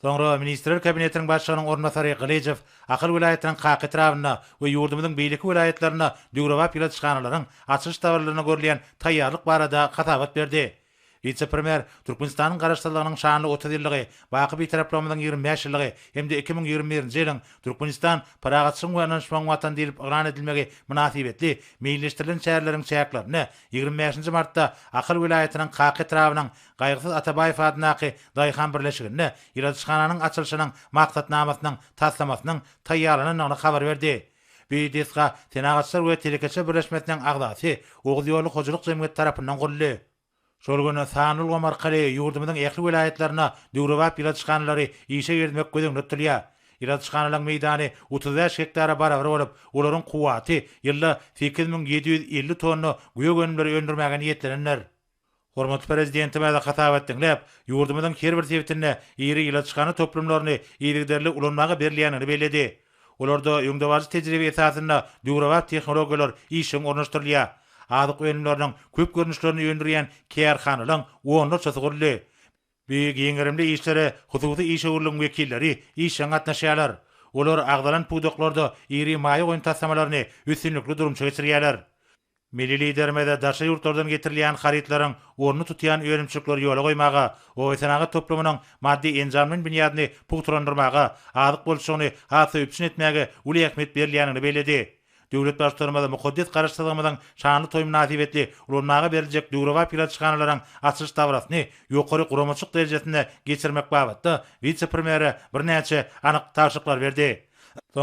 Soňra Ministrler Kabinetiniň Başlygynyň orunbasary Gylyjow Ahal welaýatynyň Kaka etrabynda we ýurdumyzyň beýleki welaýatlarynda döwrebap ýyladyşhanalaryň açylyş dabaralarynda görülýän taýýarlyk barada hasabat berdi. Wise-premýer Türkmenistanyň Garaşsyzlygynyň şanly otuz ýyllygy, baky Bitaraplygymyzyň ýigrimi bäş ýyllygy hem-de iki müň ýigrimi birinji ýylyň Türkmenistan, parahatçylygyň we ynanyşmagyň Watany diýlip yglan edilmegi mynasybetli meýilleşdirilen çäreleriň çäklerinde ýigrimi bäşinji martda Ahal welaýatynyň Kaka etrabynyň Gaýgysyz Atabaýew adyndaky daýhan birleşiginde ýyladyşhananyň açylyşynyň maksatnamasynyň taslamasynyň taýýarlanandygyny habar berdi. Bu desga Senagatçylar we telekeçiler birleşmesiniň agzasy Oguz ýoly hojalyk jemgyýeti tarapyndan guruldy. Şol gün sanly ulgam arkaly ýurdumyzyň ähli welaýatlarynda döwrebap ýyladyşhanalary işe girizmek göz öňünde tutulýar. Ýyladyşhanalaryň meýdany otuz bäş gektara barabar bolup, olaryň kuwwaty ýylda sekiz müň ýedi ýüz elli tonna gök önümleri öndürmäge niýetlenendir. Hormatly Prezidentimiz hasabat diňläp, ýurdumyzyň her bir sebitinde iri ilaçhana toplumlaryny yzygiderli ulanmaga berilýändigini belledi. Olarda öňdebaryjy tejribe esasynda döwrebap tehnologiýalar işjeň ornaşdyrylýar. Azyk önümleriniň köp görnüşlerini öndürýän kärhanalaryň onlarçasy guruldy. Bu giň gerimli işlere hususy işewürligiň wekilleri işjeň gatnaşýarlar. Olar agzalan pudaklarda iri maýa goýum taslamalaryny üstünlikli durmuşa geçirýärler. Milli Liderimiz daşary ýurtlardan getirilýän harytlaryň ornuny tutýan önümçilikleri ýola goýmaga, obasenagat toplumynyň maddy-enjamlaýyn binýadyny pugtalandyrmaga, azyk bolçulygyny has-da üpjün etmäge uly ähmiýet berilýändigini belledi. Döwlet Baştutanymyz mukaddes Garaşsyzlygymyzyň şanly toýy mynasybetli ulanmaga beriljek döwrebap ilaçhanaryň açylyş dabarasyny ýokary guramaçylyk derejesinde geçirmek babatda wise-premýere birnäçe anyk tabşyryklar berdi.